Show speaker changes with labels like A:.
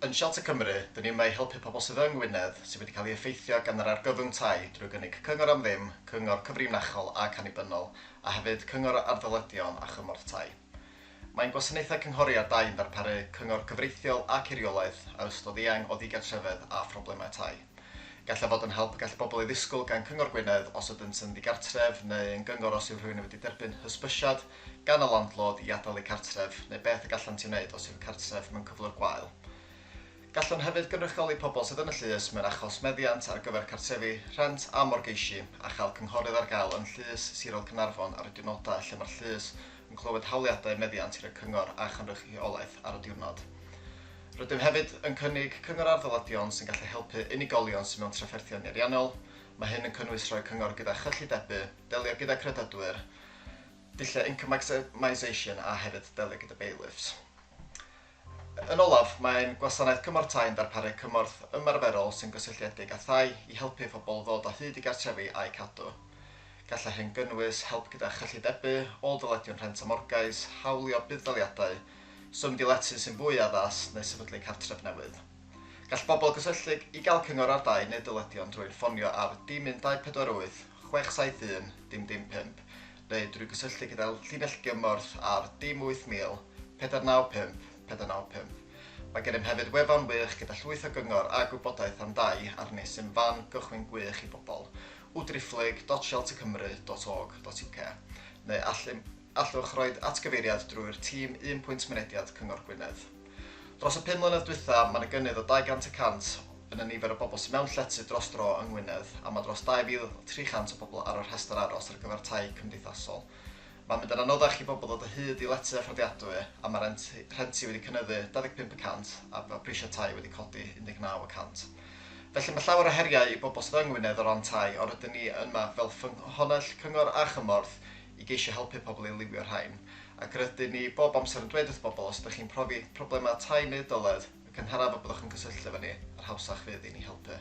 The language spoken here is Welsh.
A: Yn Shelter Cymru, dyn ni yma i helpu pobl sydd yng Ngwynedd sydd wedi cael ei effeithio gan yr argyfwng tai drwy gynnig cyngor am ddim, cyngor cyfrinachol ac annibynnol, a hefyd cyngor ar ddyledion a chymorth tai. Mae'n gwasanaethau cynghori ar dai yn darparu cyngor cyfreithiol ac eiriolaeth ar ystod eang o ddigartrefedd a phroblemau tai. Gall e fod yn help y gall bobl ei ddisgwyl gan Cyngor Gwynedd os ydynt yn ddigartref neu yn gyngor os yw rhywun yn wedi derbyn hysbysiad gan y landlord i adael eu cartref neu beth y gallant ei wneud os yw'r cartref mewn cyflwr gwael. Gallwn hefyd gynrychioli pobl sydd yn y llys mewn achos meddiant ar gyfer cartrefi, rhent a morgeisi a chael cynghorydd ar gael yn Llys Sirol Caernarfon ar y diwrnodau lle mae'r llys yn clywed hawliadau meddiant gyda Cyngor a Chynrychiolaeth ar y diwrnod. Rydym hefyd yn cynnig cyngor ar ddyledion sy'n gallu helpu unigolion sydd mewn trafferthion nieriannol, mae hyn yn cynnwys rhoi cyngor gyda chyllidebu, delio gyda credydwyr, dulliau income maximisation a hefyd delio gyda bailiffs. Yn olaf, mae ein Gwasanaeth Cymorth Tai yn darparu cymorth ymarferol sy'n gysylltiedig â thai i helpu pobl ddod o hyd i gartrefi a'u cadw. Gallai hyn gynnwys help gyda chyllidebu, ôl-dyledion rhent a morgais, hawlio budd-daliadau, symud i lety sy'n fwy addas neu sefydlu cartref newydd. Gall pobl gysylltu i gael cyngor ar dai neu dyledion drwy'n ffonio ar dim 1488 67 dim dim pump neu drwy gysylltu gyda'r llinell gymorth ar dim 8000 495 495. Mae gennym hefyd wefan wych gyda llwyth o gyngor a gwybodaeth am dai ar nes sy'n fan gychwyn gwych i bobl, www.sheltercymru.org.uk, neu allwch roi atgyfeiriad drwy'r tîm Un Pwynt Mynediad Cyngor Gwynedd. Dros y pum mlynedd dwytha, mae yna gynnydd o 200 y cant yn y nifer o bobl sydd mewn llety dros dro yng Ngwynedd a mae dros 2,300 o bobl ar y rhestr aros ar gyfer tai cymdeithasol. Mae'n mynd yn anoddach i bobl ddod o hyd i lety a fforddiadwy a mae rent rhenti wedi cynyddu 25 y cant a mae prisiau tai wedi codi 19 y cant. Felly mae llawer o heriau i bobl sydd yng Ngwynedd o ran tai ond rydyn ni yma fel ffynhonnell cyngor a chymorth i geisio helpu pobl i liwio'r rhain, ac rydyn ni bob amser yn dweud wrth bobl os ydych chi'n profi problemau tai neu dyled y cynharaf y byddwch yn cysylltu efo ni, yr hawsach fydd i ni helpu.